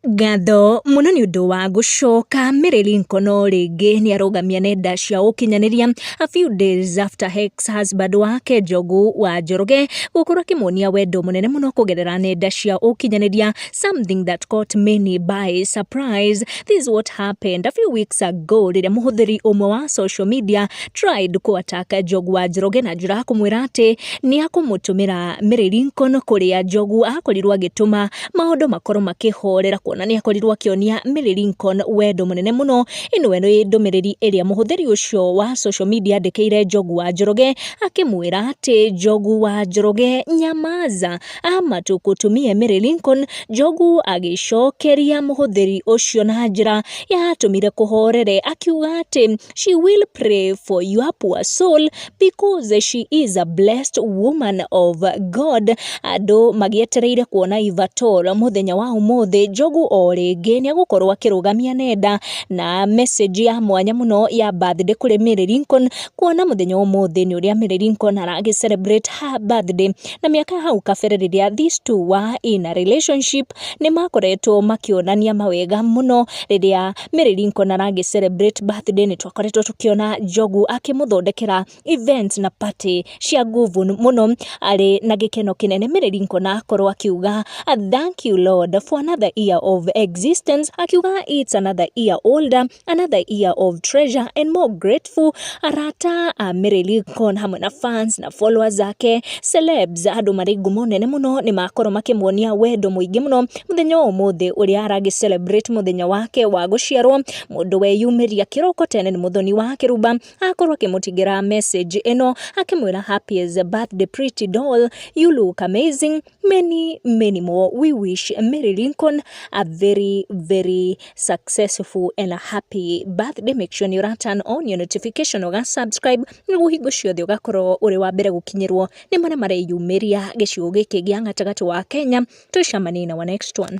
Ngatho mũno nĩ ũndũ wa gũcoka. Mary Lincoln o rĩngĩ nĩ arũgamia nenda cia ũkinyanĩria a few days after ex husband wake Njogu wa Njoroge gũkorwo akĩmuonia wendo mũnene mũno kũgerera nenda cia ũkinyanĩria something that caught many by surprise. This is what happened a few weeks ago rĩrĩa mũhũthĩri ũmwe wa social media tried kũ attack Njogu wa Njoroge na njĩra ya kũmwĩra atĩ nĩ akũmũtũmĩra Mary Lincoln kũrĩa Njogu akorirwo agĩtũma maũndũ makorwo makĩhorera kuona nĩ akorirwo akĩonia Mary Lincoln wendo mũnene mũno. Ĩno nĩ ndũmĩrĩri ĩrĩa mũhũthĩri ũcio wa social media andĩkĩire Njogu wa Njoroge akĩmwĩra atĩ Njogu wa Njoroge nyamaza ama tũkũtumie Mary Lincoln. Njogu agĩcokeria mũhũthĩri ũcio na njĩra yatũmire kũhorere akiuga atĩ She will pray for your poor soul because she is a blessed woman of God. Andũ magĩetereire kuona Ivatora mũthenya wa ũmũthĩ Njogu o rĩngĩ nĩ egũkorwo akĩrũgamia nenda na message ya mwanya mũno ya birthday kũrĩ Mary Lincoln kuona mũthenya wa ũmũthĩ nĩ ũrĩa Mary Lincoln aragĩ celebrate her birthday na mĩaka ya hau kabere rĩrĩa these two were in a relationship nĩ makoretwo makĩonania mawega mũno rĩrĩa Mary Lincoln aragĩ celebrate birthday nĩ twakoretwo tũkĩona Njogu akĩmũthondekera events na party cia nguvu mũno arĩ na gĩkeno kĩnene Mary Lincoln akorwo akiuga thank you Lord for another year of existence akiuga it's another year older another year of treasure and more grateful arata a Mary Lincoln hamwe na fans na followers zake celebs andå marä ngumo nene må no nä makorwo makä muonia wendo må ingä må no mũthenya wa ũmũthĩ ũrĩa aragĩ celebrate mũthenya wake wa gũciarwo mũndũ weyumĩria kĩroko tene nĩ mũthoni wa kĩruba akorwo akĩmũtigĩra message ĩno akĩmwĩra happiest birthday pretty doll you look amazing many many more we wish Mary Lincoln a very very successful and a happy birthday make sure nĩ ũra turn on your notification ũga subscribe nĩguo hingo ciothe ũgakorwo ũrĩ wa mbere gũkinyĩrwo nĩ marĩa mareyumĩria gĩcigo gĩkĩ gĩa gatagatĩ wa Kenya. Tũcemanie in our next one.